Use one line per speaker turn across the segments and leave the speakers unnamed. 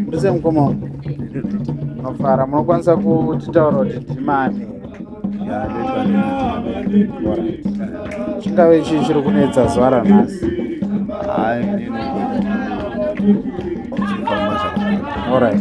ndise mukoma mafara munokwanisa kutitaura kuti ndimani
chingave
chii chiri kunetsa zuva ranhasi All right.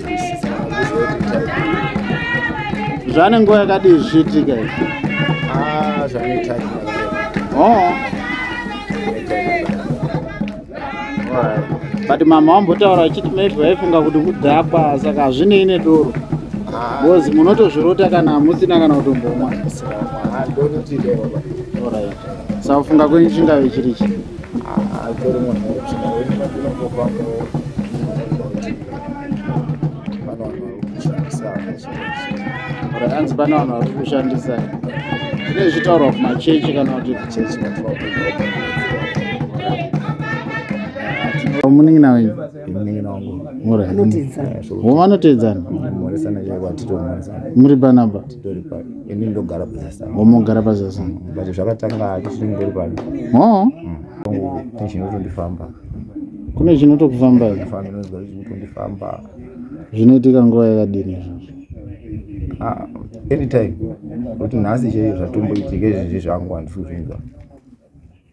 zvane nguva yakadii zvichiitika izvi ah,
zvanoita oh.
but mama wambotaura achiti maybe vaifunga kuti kudhakwa saka hazvinei nedoro ah. bcause munotozvirota kana hamusina kana kutombomwa sa kufunga kwenyu chingave chiri chi ah, anzi pane vanhu vari kushandisa zvine zvitaurwa kumachechi kana kuti kuchechi munin'ina wenyu vanoteedzana muri panapa omogara
pazasana kune
chinoto kufamba zvinotondifanba zvinoitika nguva yakadini izvozvo ah,
anytime kuti nhasi chaiyo zvatomboitika izvizvi zvangu handisi kuzvinzwa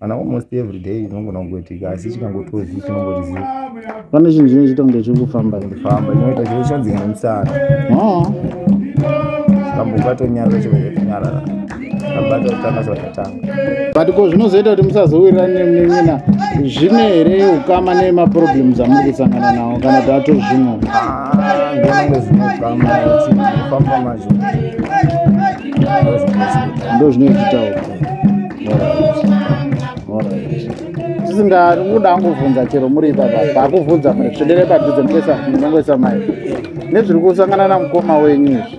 ana almost every day inongona kungoitika asi chikangotozi chinongotiziva pane chinhu
chine chitonge chiri kufamba ndifamba chinoita chiro
chanzi nemusana ah. kamboka tonyarara chinoitonyarara abata kutanga zvatatanga but ko zvinozoita
kuti musazowirirani nemunin'ina zvine here ukama nemaproblems amuri kusangana nawo kana kuti ato zvimwe ndonange
zvine ukama famba mazvo
ndo zvinoititawo tisinga kuda angobvunza chero muri ipapa pakubvunza msvedere padhuze mkuesa mai nezviri kusangana namukoma wenyu izvi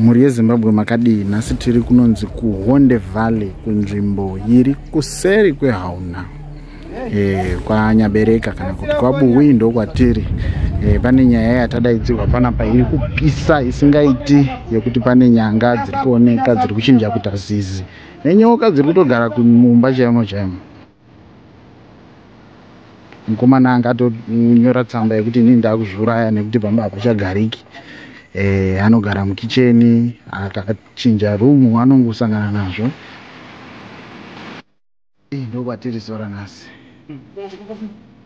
mhuri yezimbabwe
makadii nhasi tiri kunonzi kuhonde valley kunzvimbo iri kuseri kwehauna e, eh, kwanyabereka kana kuti kwabuwi ndokwatiri e, pane nyaya yatadaidzirwa panapa iri kupisa isingaiti yekuti pane nyanga dziri kuoneka dziri kuchinja kuita zizi nenyoka dziri kutogara kumumba chaimo chaimo mukomana anga atonyora tsamba yekuti inini ndakuzviuraya nekuti pamba hapachagariki eh, anogara mukicheni akachinja room anongosangana nazvo eh, ndokwatiri sora nhasi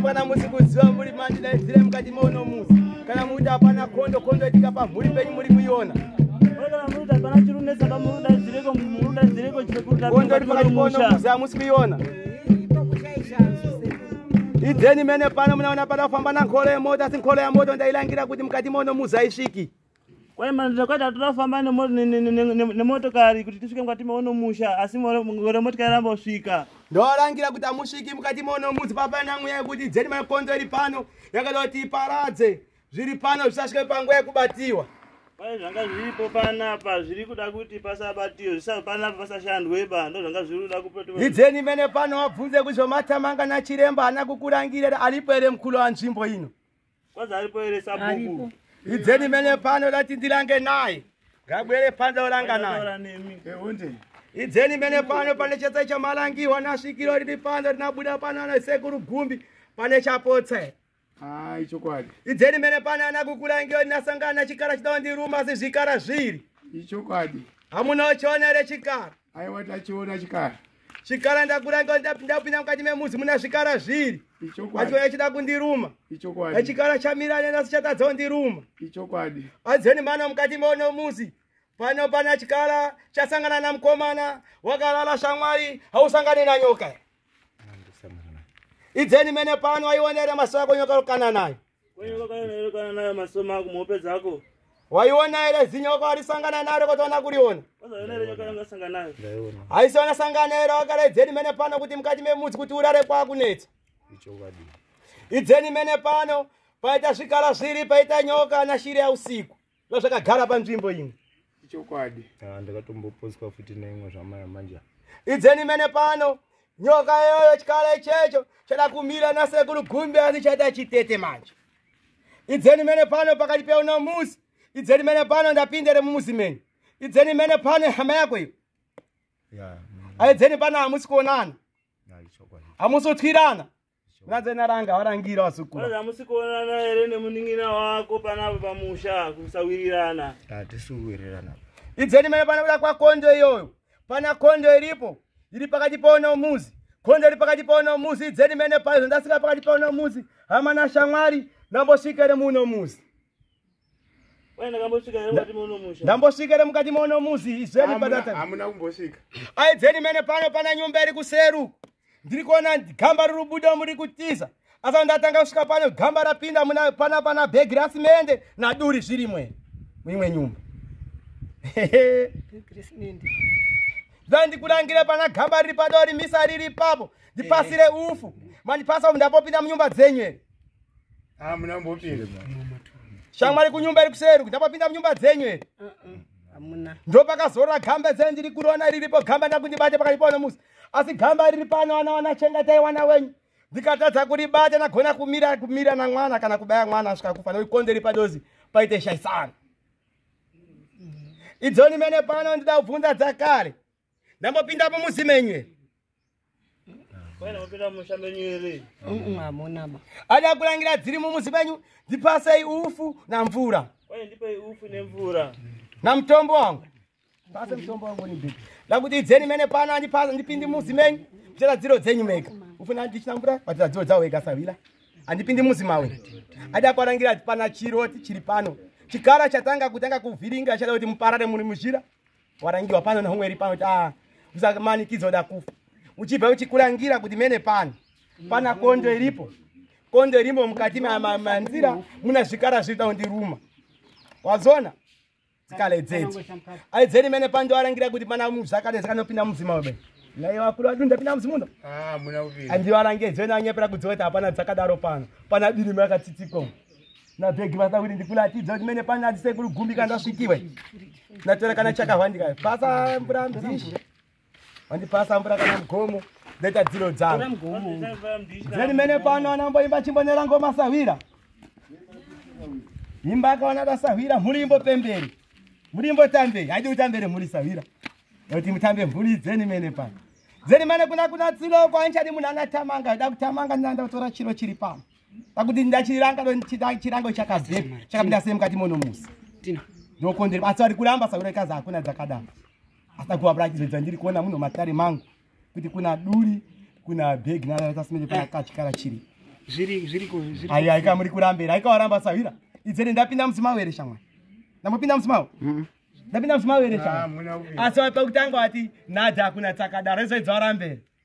mwana musi kuziva muri mandi daidzire mukati mouno musi kana
mukuti hapana kondo kondo itika pamhuri penyu muri kuiona kondo iri
pakati pouno musi
hamusi kuiona idzeni mene pano munaona pada kufamba na nkolo yemoto asi nkolo yamoto ndailangira kuti mukati mono muzaisviki kwaimanzvakwata
toda kufamba nemotokari kuti tisvike mukati meono musha asi gore motokari ramba kusvika ndorangira kuti
amusviki mukati mono muzi papanamweya kuti dzeni makonzo iri pano yakada kuti iparadze zviri pano zvisasvike panguva yekubatiwa pane zvanga
zviripo panapa zviri kuda kuti pasabatiwe panapa pasashandweba ndo zvanga zviri kuda kuidzeni mene pano
wabvunze kuti zvamatamanga nachiremba haana kukurangirira aripo here mukulu wanzvimbo ino kwazi aripo here
sabhuku idzeni mene
pano dati ndirange naye ngabwere pano oranga naye idzeni mene pano pane chese chamalangiwa nasvikiro riri pano rinabuda pano anasekuru gumbi pane chapotsa here Hai chokwadi.
Idzeni mene
pana ana kukula inge ndinasangana chikara chidawo ndiruma asi zvikara zviri. Ichokwadi.
Hamuna uchiona
here chikara? Aiwa tachiona
chikara. Chikara ndakura
inge ndapinda kupinda mukati memuzi muna zvikara zviri. Ichokwadi. Achiuya achida
kundiruma.
Ichokwadi. Echikara
chamira nena
asi chatadzawo ndiruma. Ichokwadi.
Adzeni mano mukati
meono muzi. Pano pana chikara chasangana namukomana wakalala shamwari hausangane na nyoka. idzeni mene pano waionera maso ako nyoka rokana nayo
waiona here
zinyo wako warisangana naro kotoona kuriona
haisiona
sangana here
wakara idzeni mene pano kuti mukati memudzi kuti urare kwakunetsa
idzeni
mene pano paita zvikara zviri paita nyoka nashiri yausiku zvazvakagara panzvimbo imwe ichokwadi
ah, ndakatomboposwa futi neimwe zvamaya manje idzeni mene
pano nyoka iyoyo chikala ichecho chada kumira nasekuru gumbi asi chaita chitete manje idzeni mene pano pakati peuno musi idzeni mene pano ndapindere mumuzi menyu idzeni mene pano hama yako iyo aidzeni pano hamusi kuonana hamusi
kutwirana
Mukadzi enaranga warangira wasukura. Saka musikuonana
here nemuningina wako panapa pamusha kusawirirana. Hatisuwirirana.
Idzeni mene
pana kuda kwakondo iyoyo. Pana kondo iripo. Iri pakati paona umuzi. Kondo iri pakati paona umuzi. Idzeni mene paizvo ndasika pakati paona umuzi. Hamana shamwari. Nambosvikere muno muzi.
ndambosvika ere mukati mono
muzi izveni pahamuna kumbosvika
aidzeni mene
pano pana nyumba iri kuseru ndiri kuona gamba riri buda muri kutiza asa ndatanga kusvika pano gamba rapinda pana pana bhegi rasimende naduri zvirimwe muimwe nyumba zvandikurangire pana gamba riri padori misa riri ipapo ndipasire ufu mandipasa ndapopinda munyumba dzenyu ere hamuna
mbopinda shamwari
kunyumba iri kuseri ndapapinda munyumba dzenyu ere hamuna
ndopakazorora
gamba dzenyu ndiri kurona riripo gamba ndakundibate pakaipaona musi asi gamba riri pano wana wana chengatai wana wenyu ndikatadza kuribata ndagona kumira kumira namwana kana kubaya mwana asvika kufa nokuti konderi padozi paite shaisana idzoni mene pano ndida kubvunza dzakare ndambopinda apo muzi menyu
ere
ada kulangira dziri
mumuzi menyu ndipasei ufu namvura
namutombo
wangu pase mutombo wangu nibhii ndakuti idzeni mene pano andipasa ndipindi muzi menyu kuchera dziro dzenyu mega ufuna ndichina mvura vatira dziro dzavo ega savila andipindi muzi mawe ada kuarangira ati pana chiroti chiri pano chikara chatanga kutanga kuvhiringa chada kuti muparare muri muzhira warangiwa pano nomweri pano ta usakumanikidzo da kufa uchibva uchikurangira kuti mene pano pana kondo iripo kondo irimo mukati manzira muna zvikara zviri taundiruma wazona zikale dzedzi aidzeni mene pano ndowarangira kuti pana zvakare zvakanopinda mudzima webe naye vakuru vadu ndapinda mudzimu uno ah,
andivarange dzeni
anyepera kudzoti hapana dzakadaro pano pana birimo yakatsitsikwa nabhegi vasa kuti ndikulatidza kuti mene pane adzise kuri gumbi kana ndasvikiwe ndatora kana chakahwandika pasa mvura mdhishi wandipasa mvura kana mugomo ndaita dziro dzavo dzeni mene pano anamboimba chimbonera ngoma sahwira imba akaona dasahwira mhuri imbopemberi mhuri imbotambei haidi kutambere mhuri sahwira nokuti mutambe mhuri dzeni mene pano dzeni mene kuna kuna tsilo kwanchadi munhu anatamanga aida kutamanga ndinanda kutora chiro chiri pano pakuti ndachiranga chirango chakazeka chakapinda sei mukati mono musi ndokondere
asi vari
kuramba saura ikazi hakuna dzakadaro asi akuwabura achizoita ndiri kuona muno matare mangu kuti kuna duri kuna bhegi naratasmete kuna eh. kachikara chiri
aiwa
ika muri kurambira aika waramba sahwira
idzere ndapinda musimao here shamwa ndambopinda musimao mm-hmm. ndapinda musimao here shamwa ah, asi wapekutanga wati nadha hakuna tsakadaro izoidza warambere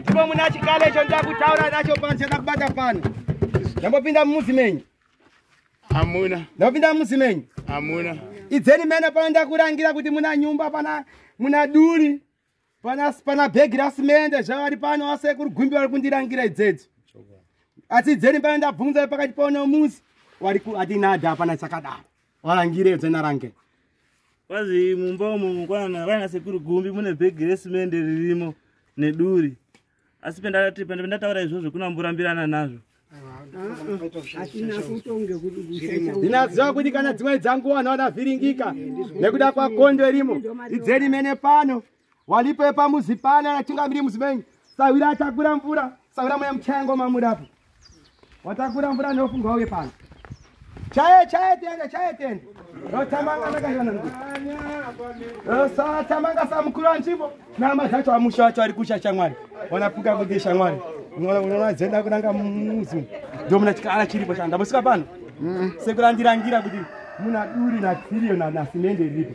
ndipo muna chikale icho ndakutaura nacho pano chandakubata pano ndambopinda mumuzi menyu amuna
ndambopinda mumuzi
menyu amuna
idzeni mene pano
ndakurangira kuti muna nyumba pana muna duri pana pana bhegi rasimende zvavari pano asekuru gumbi vari kundirangira idzedzo asi idzeni pano ndabvunza pakati pano muzi wari ku atinada hapana chakadaro wangire dzena range kwazi
mumba umo mukwana vana sekuru gumbi mune bhegi resimende ririmo neduri asi pendati pende pendataura izvozvo kuna mburambirana nazvo
ndinaziva kuti kana dzimwe dzanguwa naona vhiringika nekuda kwakondo irimo idzeni mene pano walipo yepamuzi pane anachingamiri muzi menyu sahwira atakura mvura sahwira mweya muchayango mamudapo watakura mvura neofungwa uye pano chaye chaye tende chaye tende rotamanga nakashana rosatamanga samukuru anzvimbo nama dzacho amusha wacho ari kusha shamwari wanapuka kuti shamwari unoona dzenda kunanga muzi ndomuna chikara chiripo chanda musika pano mm. sekurandirangira kuti muna duri natsirio nasimende riripo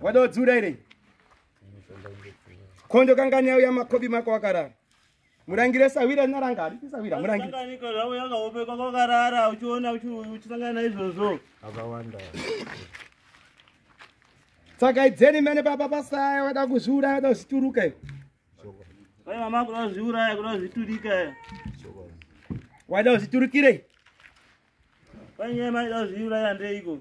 wada kudziura iri kondo kangani yauya makobi mako wakarara murangire sawira naranga aripi sawira murangireakaopekwa
kwakarara uchiona uchisangana naizvozvo akawanda
saka idzeni mene baba pasaya wada kuzviura wada kuzvituruka iyo ai
mama kuda kuzviuraya kuda kuzviturika
wada kuzviturukirei
panyaya maida kuzviuraya ndeiko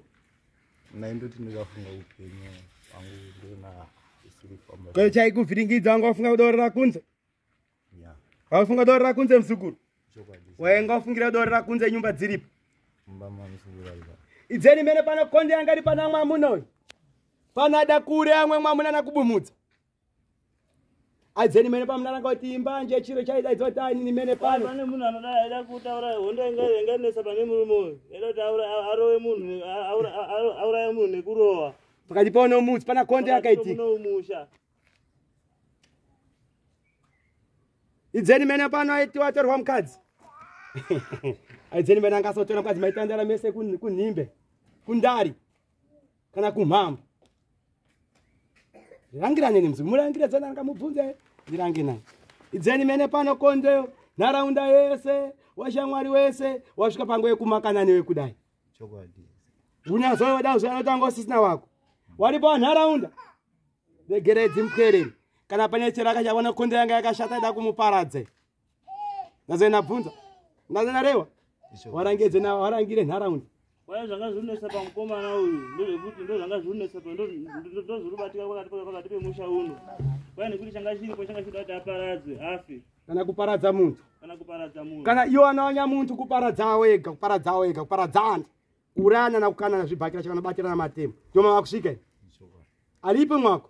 naindoti
ndikafunga upenyu angu ndona isiri famba ko chaikuvhiringidza
wanga wafunga kudorera kunze
waifunga kudorera
kunze muzukuru wainga
wafungira
kudorera kunze nyumba dziripo
idzeni mene pano
konde yanga ri pana amwe amuna uyu pano ada kure amwe mwamuna nakubumudza aidzeni mene pamunaranga kuti imbanje chiro chaidaidzwa kuti ainini mene pano pane munhu anoda aida
kutaura hondo ingainganesa pane murume uyu aida kuti arowe munhu auraya munhu nekurowa pakati pao nomutsi
pana konde akaitika idzeni mene pano aitiwa atorwa mukadzi aidzeni mene angasotora mukadzi maitandara mese kunhimbe kundari kana kumhambo rirangirane nemzi murangire dzana anga mubvunze ndirange naye idzeni mene pano kondeyo nharaunda yese washamwari wese wasvika pango yekumakanani wekudai
unyazoyoda
zve anotanga usisina wako waripo wanharaunda regeredzi mupwereri kana pane chero akachaona konde yanga yakashata ida kumuparadze ngaze nabvunza ngaze narewa warangedze na warangire nharaunda waya zvanga zvinonesa
pamukomana uyu ndozvekuti ndozvanga zvinonesa pa ndozviribatika pakati pakati pemusha uno waya nekuti changa chiripo changa chida kuti aparadzwe afe kana kuparadza
muntu kana kuparadza muntu
kana iyo anawanya muntu
kuparadza wega kuparadza wega kuparadza antu kuurayana na kukanana zvibhakira chakanobatirana matemo ndomava kusvika alipo mwako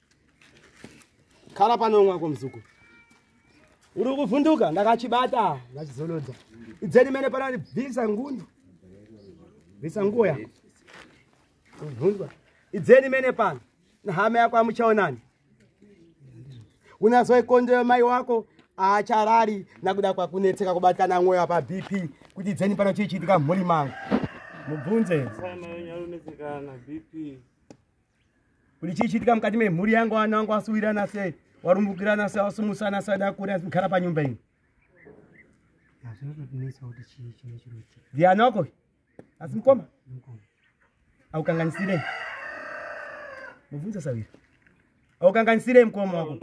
khala pano mwako mzukuru uri kuvhunduka ndakachibata ndachizolodza idzeni mene panani bvisa ngundu bvisa nguo yako kuvhundwa idzeni mene pano nehama yako amuchaonani unazoikondeyo mai wako aacharari nakuda kwakunetseka kubatana mwoyo apa bp kuti idzeni pano chii chiitika mhuri mangu mubvunze
bp
kuti chii chiitika mukati memhuri yangu vana vangu vasuwirana sei warumbukirana sei wasumusana sei dakuri asi kugara panyumba ini
ndiani wako
asi mukoma aukanganisirei mubvunza sawira aukanganisirei mukoma wako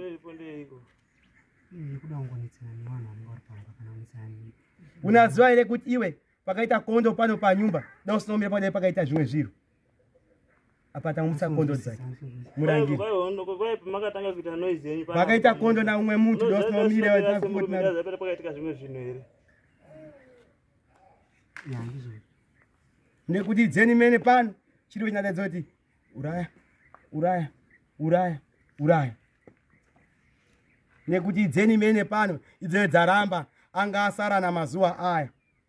unaziva
here kuti iwe pakaita kondo pano panyumba da usinomira padai pakaita zvimwe zviro apa tamutsa kondo dzake murangi
vakaita kondo na umwe mutu
dosnomire vatakaitika zvimwe zvinhu
here
nekuti dzeni mene pano chiri kunyatadza kuti uraya uraya uraya uraya nekuti dzeni mene pano idzoyo dzaramba anga asara namazuva aya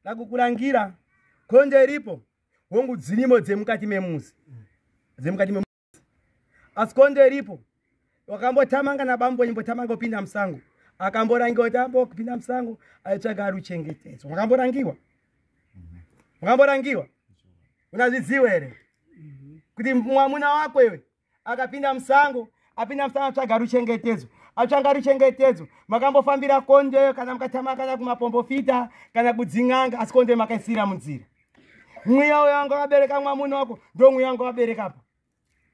ndakukurangira konje iripo hongu dzirimo dzemukati memuzi dzemukati memuzi asi konje iripo wakambotamanga nabambo imbotamanga opinda musango akamborangiwa kuti ambokupinda musango aitsvaga ari uchengetedzo makamborangiwa makamborangiwa unazvidziwa here kuti mwamuna wako iwe akapinda musango apinda musango atsvaga ruchengetedzo atsvanga ruchengetedzo makambofambira kondeyo kana mukatama kana kumapombofita kana kudzin'anga asi kondeyo makaisira munzira mweya uya wanga wabereka mwamuna wako ndo mweya wanga wabereka apa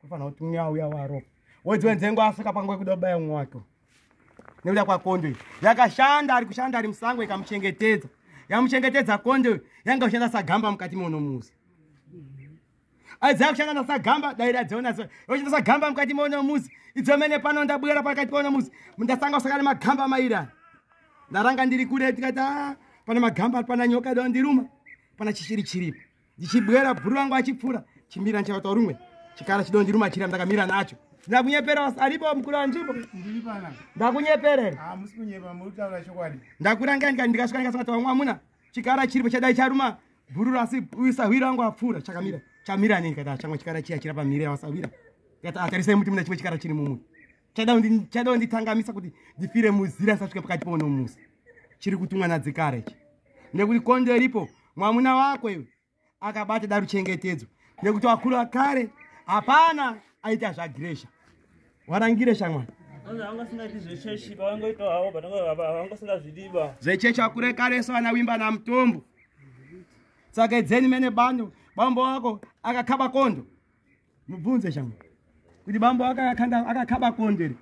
kufanira kuti mweya uya waro wodziwe nzengo asvika pangu wekuda kubaya mwe wake nekuda kwakondo iyi yakashanda ari kushanda ari musango ikamuchengetedza yamuchengetedza kondo yanga kushanda sagamba mukati monomuzi aidzaa kushanda nasagamba dai radziona so yoshanda sagamba mukati mono muzi idzo mene pano ndabwera pakati pono muzi ndasanga kusaka nemagamba maira ndaranga ndiri kure tikati ah, pana magamba pana nyoka do ndiruma pana chishiri chiripo ndichibwera bhuru vangu achipfuura chimira ndichakata rumwe chikara chido ndiruma chira ndakamira nacho ndakunyepera aripo mukuru wanzvimbo ndakunyeperere ah, ndakuranga ndikasvika ndikasvika tawamwamuna chikara chiripo chadai charuma bhurura asi uyu sahwira wangu apfuura chakamira chamira nei kata chamwe chikara chiya chira pamhiri yawasahwira kata atarisai muti muna chimwe chikara chiri mumwe chadawo nditangamisa kuti ndifire muzira ndisasvike pakati pono musi chiri kutumwa nadzikara ichi nekuti kondo iripo mwamuna wako iwe akabata da ruchengetedzo nekuti wakuru wakare hapana aita zvagiresha warangire shamwana zvechechi vakure kareso vana wimba namutombo saka idzeni mene bando bambo wako akakaba kondo mubvunze shangu kuti bambo wako akakaba kondo iri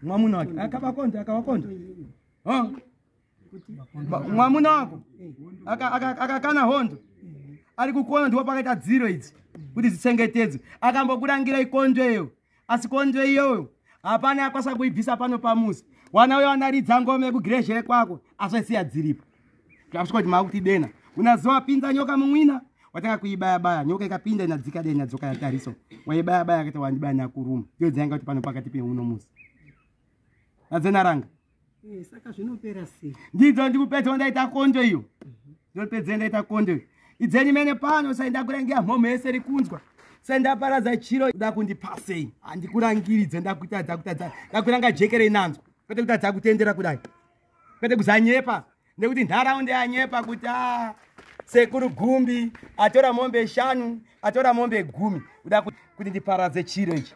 mwamuna wake akakaba kondo akawa kondo mwamuna wako akakana hondo ari kukuona ndiwo pakaita dziro idzi kuti dzichengetedzwe akambokurangira ikondo iyo asi konzo iyoyo hapana yakwasa kuibvisa pano pamuzi wana uyo wanaridza ngome kugireshere kwako asvaisiya dziripo takusvika kuti maakuti dena kuna zuva pinza nyoka mumwina watanga kuibaya baya nyoka ikapinda inadzika dai inadzoka yatariso waibaya baya akaita wandibaya nakuruma iyo dzainga kuti pano pakati peuno musi nadzenaranga Eh,
saka zvinopera sei ndidzo ndikupedza
wandaita kondo iyo ndopedza ndaita kondo iyo idzeni mene pano sai ndakurangira mhomho yese rikunzwa sai ndaparadza chiro da kundipasei handikurangiridze ndakutadza kutadza ndakuranga jeke reinanzwa kwete kutadza kutendera kudai kwete kuzanyepa nekuti nharaunda yanyepa kuti a ah, sekuru gumbi atora mombe shanu atora mombe gumi kuda kuti ndiparadze chiro ichi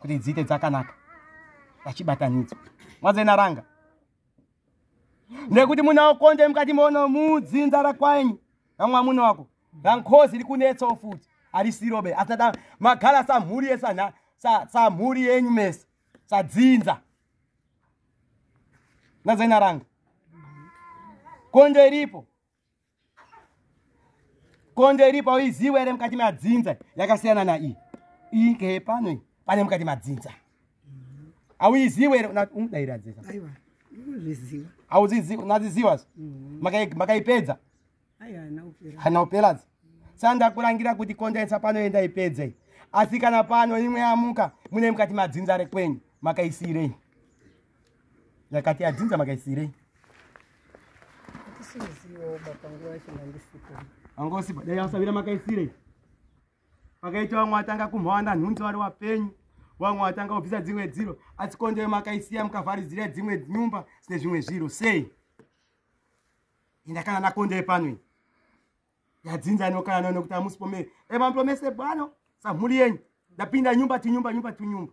kuti dziite dzakanaka vachibatanidzwa mwadzenaranga nekuti muna okonde mukati mono mudzinza rakwaenyu namwamuna wako rankozi rikunetsawo futi arisirobe asada magala samhuri yesana samhuri yenyu mese sadzinza nadzainaranga konde ripo konzo iripo uiziwe ere mukati madzinza yakasiyana naiyi iyi ngeye pano iyi pane mukati madzinza auiziwe ere unodairadzisa auziziwa unaziziwa mm. makaipedza hana uperadza sa ndakurangira kuti kondaisa pano ye ndaipedze asi kana pano imwe yamuka mune mukati madzinza rekwenyu makaisiirei yakati adzinza makaisirei anga usipa dai asavira makaisirei pakaita vamwe atanga kumhawanda nhunzi vari wapenyu vamwe vatanga kubvisa dzimwe dziro asi kondeyo makaisiya mukavharidzira dzimwe nyumba dzine zvimwe zviro sei indakana nakondeyo panoi yadzinza inokana nao nekuti amusi pomere emambo mese bwano samhuri yenyu ndapinda nyumba tinyumba nyumba tunyumba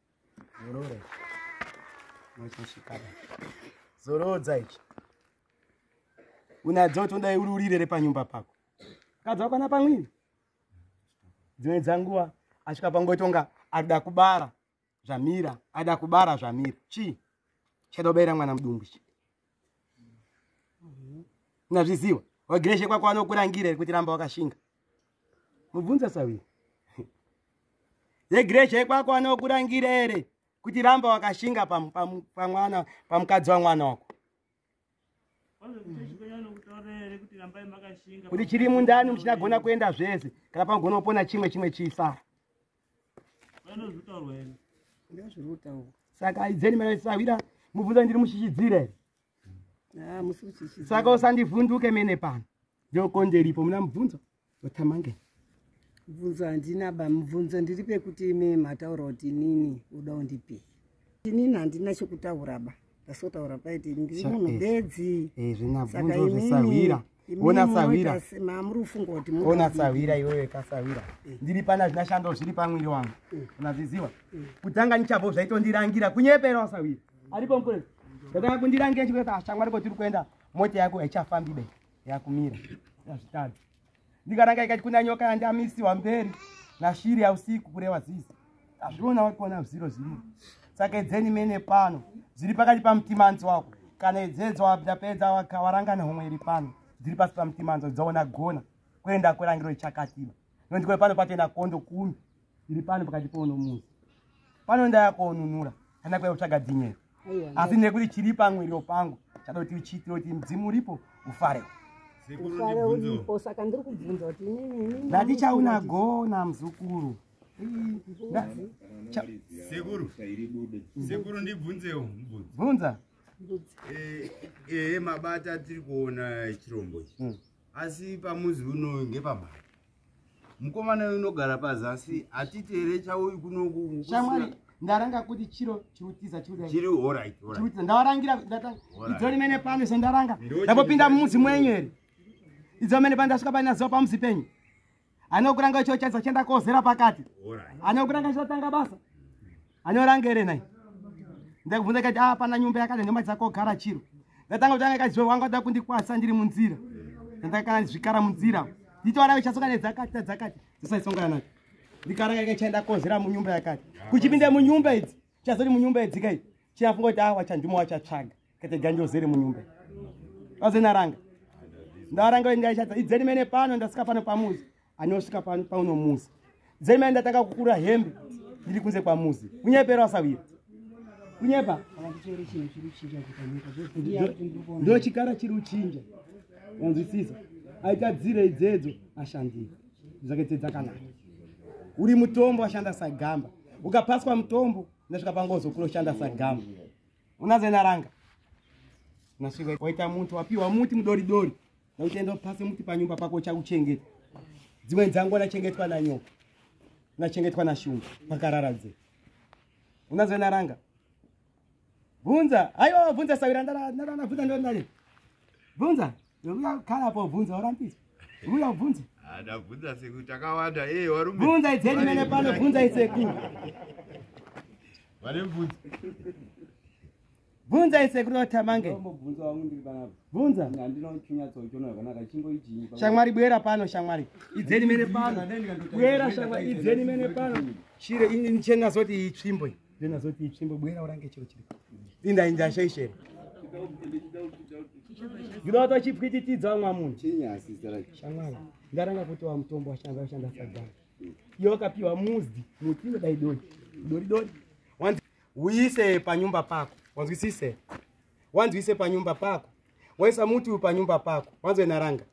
Zorore. Machishikana. Zorodza ichi. Unadzo tonda ururire repanyumba pako. Kadza kwana pamwini. Dzimwe dzanguwa asvika pangotonga ada kubara zvamira ada kubara zvamira chii chada kubaira mwana mudumbu chii nazviziwa wagreshe kwako anokurangira here kuti ramba wakashinga mubvunza sawi yegreshe kwako anokurangira here kuti ramba wakashinga pamwana pamukadzi wamwana wako kuti chiri mundani muchinagona kuenda zvese kana pamugona kupona chimwe chimwe chisa saka aidzeni mara sawira mubvunza ndiri mushishidzire ah, saka usandivhunduke mene pano ndokonderipo muna mubvunzo otamange
mubvunzo handina ba mubvunzo ndiri pekuti imi mataura kuti inini uda undipei inini handina chekutaura ba ndasotaura paiti ndiri munhu bedzi eh, eh, saka
inini ona sahwira
ona sahwira iwewe
kasahwira eh. ndiri pana zvina shando zviri pamwiri wangu eh. unazviziva eh. kutanga nichabvo zvaitondirangira kunyepera wasahwira aripo mukule ndakanga kundirangira chikuta ashamwa ariko tiri kuenda mota yako haichafambi be yakumira azvitadzi ndikaranga ikati kuna nyoka yandamisiwa mberi nashiri yausiku kureva zizi azviona wakuona ziro ziri saka edzeni mene pano zviri pakati pamutimanzi wako kana edzedzo wapedza warangana homwe iri pano dziri pasi pamutimanzi dzaona gona kuenda kurangiro ichakatiba nokuti kwe pano patoenda kondo kumi iri pano pakati pouno muzi pano ndayakonunura kana kuya kutsvaga dzinyero asi nekuti chiri pamwiriro pangu chada kuti uchiitire kuti mudzimu uripo ufare
ndatichaunagona
muzukuru Sekuru.
Sekuru ndibvunzewo. Bvunza.
Eh, eh
mabata tiri kuona chirombo ichi. Hmm. Asi pamuzi uno ngepabata. Mukomana uyu unogara pazasi atiti here chauyu kunoku. Shamwari ndaranga
kuti chiro chirutiza chiri chiri all right all
right. Ndawarangira
ndatanga. Idzo rimene pano sendaranga. Ndapopinda mumuzi mwenyu here? Idzo rimene pandasvika pane zuva pamuzi penyu. ane kuranga icho chaisa chienda kozera pakati ane kuranga chotanga basa ane oranga here nai ndakubvunza kati ah pana nyumba yakati nyumba dzakogara chiro ndatanga kutanga kaziva wanga kuda kundikwasa ndiri munzira ndakakana zvikara munzira nditoara ichasoka nedzakati tadzakati dzisaisongana nacho ndikaranga ika chaenda kozera munyumba yakati kuchipinda munyumba idzi chazoti munyumba idzi kai chiyafunga kuti ah wachandimo wachatsvaga kete ganjo zere munyumbe azenaranga ndaranga wengaishata idzeni mene pano ndasika pano pamuzi anosvika pano pauno muzi dzeni mene ndatanga kukura hembe ndiri kunze kwamuzi kunyepera wasawira kunyepa ndo chikara chiri uchinja wanzwisisa aita dzire idzedzo ashandira dzake tse dzakanaka uri mutombo ashanda sagamba ukapaswa mutombo nasvika pangozokuroshanda sagamba unazena ranga nasvika waita muti wapiwa muti mudori dori nauchaenda pasi muti panyumba pako uchakuchengeta dzimwe dzangu anachengetwa nanyoka unachengetwa nashungu pakarara dze unazena ranga bvunza aiwa bvunza sawira ndarana bvunza ndonani bvunza Ndokuda kukhala kwa vunza orampisa. Ndokuda vunza. Ada vunza siku
takawanda eh warume. Vunza idzeni mene
pano vunza iseku.
Vale vunza.
Vunza iseku ro tamange. Ndombo vunza wangu ndiri pano. Vunza. Ndino chunya tso chono yakana kachimbo ijinyi. Shamwari bwera pano shamwari. Idzeni mene pano. Bwera shamwari idzeni mene pano. Shire ini nichenga zoti itsvimbo. then azoti itsvimbo bwera urange chiro chiri inda inda ashaishera ndinoda kuti vachipwititidza vamwa munhu
shamwari ndaranga
kuti wa mutombo washanda washanda sagara iyo wakapiwa muzdi muti inodai dori dori dori wanzi uise panyumba pako wanzwisise wanzi uise panyumba pako waisa muti uyu panyumba pako wanzwe naranga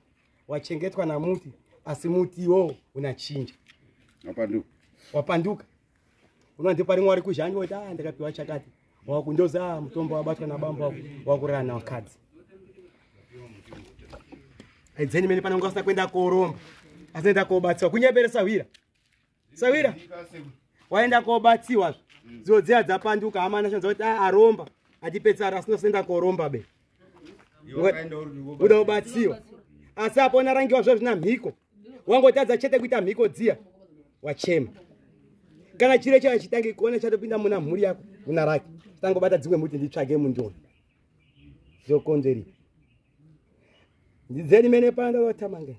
wachengetwa namuti asi mutiwo unachinja wapanduka wapanduka unonzi pari mwari kuzhanyi woti a ah, ndakapiwa chakati wakundoza ah, mutombo wabatwa nabambo wakurana wakadzi aidzeni mene pananga asina kuenda koromba asinoenda kobatsiwa kunyebere sahwira sahwira waenda kobatsiwa zvo dziya dzapanduka amana shanza kuti ah, aromba atipedzisara asina kuenda koromba be uda ubatsiwa asi apo unarangiwa zvo zvina mhiko wangotadza chete kuita mhiko dziya wachema kana chiro chava chitange kuona chatopinda muna mhuri yako una rake tangobata dzimwe muti nditsvage mundiona zvokonzeri ndidzeni mene panda vatamangeni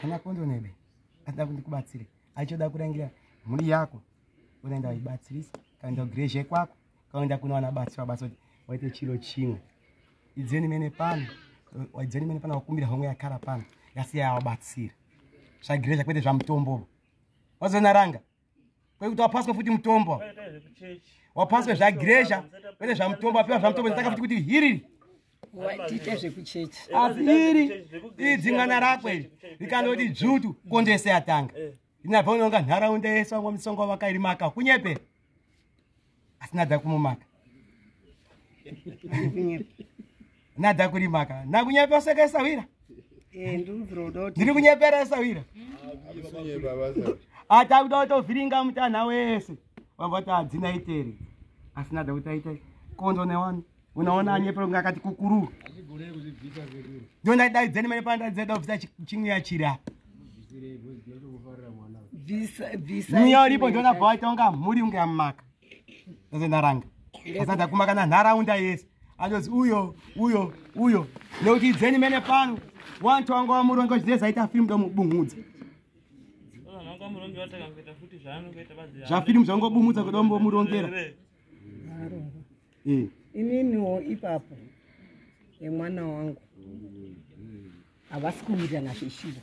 kana kondo nebe atida kuti kubatsire achoda kurangira mhuri yako unaenda uchibatsirisa kaenda kugrezhe kwako kaenda kuna wana batsira basa kuti waite chiro chimwe idzeni mene pano waidzeni mene pano wakumbira homwe yakara pano yasiya yawabatsira zvagrezha kwete zvamutombo wazoona ranga kwekuti wapaswa futi mutombo wapaswa zvagiresha kwete zvamutombo apiwa zvamutombo zitaka futi kuti hiriri tiite
zvekuchechi asi iri
iri dzingana rako iri rikanoti dzvutu kondese yatanga eh. inabva unonga nharaunda yese vamwa misongo vakarimaka kunyepera asi nada kumumaka nada kurimaka nakunyepera seka isawira eh, ndiri kunyepera isawira ati akuda kutovhiringa mutanha wese vavati hadzina itere asi nada kuti aita konzo newani unaona anyepera kunge akati kukuru ndo ndaidaidzeni mene pana ndaidzeda kubvisa chimweya chiri apa mweya uripo ndonabva waita unga mhuri unge amumaka ndazondaranga asada kumakana nharaunda yese andozi uyo uyo uyo nekuti idzeni mene pano wantu wanga wamuronga uchidze zaita firimu ndomubunhudza zvafirimu zvangobumudza kuda mbomurongera
mm. ininiwo ipapo yemwana wangu havasi kuwirirana zveshuva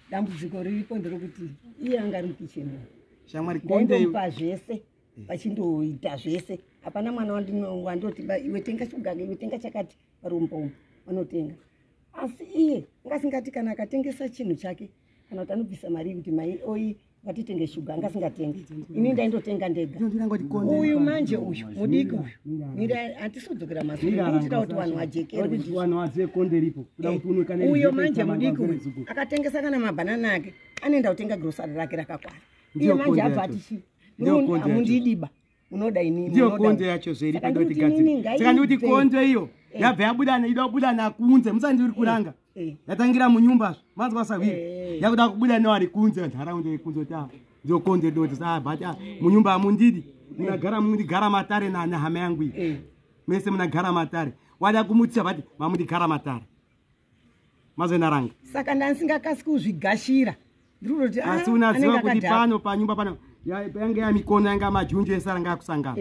dambudziko riripo ndiri kuti iye anga ari mukicheni shamwari kondepa zvese vachindoita zvese hapana mwana wandoti iwe tenga chugage iwe tenga chakati varombo umu vanotenga asi iye angasingati kana akatengesa chinhu chake kana kuti anobvisa mari yekuti mai oyi ngatitenge shuga angasingatengi ini ndaindotenga ndega uyu manje uyu mudiki uyu mira hatisi kudzokera mazuaitira kuti vanhu vajekeruyo eh, manje mudiki uyu akatengesa kana mabhanana ake anoenda kutenga grosari rake rakakwana iye manje abva atichi mundidi ba unoda inini ndiyo konzo yacho zveri
pedo kuti gadziri saka ndikuti konzo iyo eh. yabva yabuda ida kubuda nakunze musandi uri eh. kuranga eh. yatangira munyumba zvo manzwa sahwiri yakuda kubuda newari kunze nharaunda yekunze kuti apa ndiyo konzo yedo kuti saa but ah, munyumba amundidi munagara mundigara matare nahama yangu iyi mese munagara matare wada kumutisa vati mamundigara matare mazoenda ranga saka
ndanisingakasi kuzvigashira ndiruti ah, asi unaziva kuti
pano panyumba pano yange yamikono yanga majunju ese aranga akusangana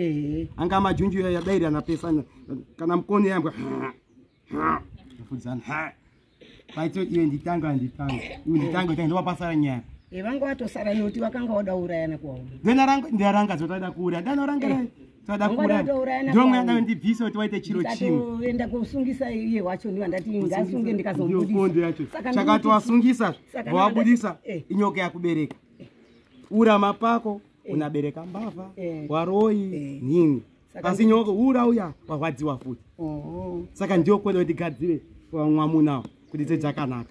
anga majunju yadairirana pesa kana mkono yambwa fudzana paito iwe nditanga anditanga iwe nditanga tanga ndovapasara nyaya vanga vatosara
noti vakanga vada urayana kuvaona ndaranga
zvotaida kuuraya ndanorangira toda kuurana ndomwe yadaro ndibvise kuti waite chiro chimwe enda kusungisa
iye wacho ndiwa ndati ngasunge ndikazomudisaondo yacho saka
towasungisa vawabudisa eh. inyoka yakubereka urama pako eh. unabereka mbavha eh. waroyi nini asi nyoka ura uya warwadziwa futi oh. saka ndiyo kwenda kuti gadzire vamwamunawo kuti dzedzakanaka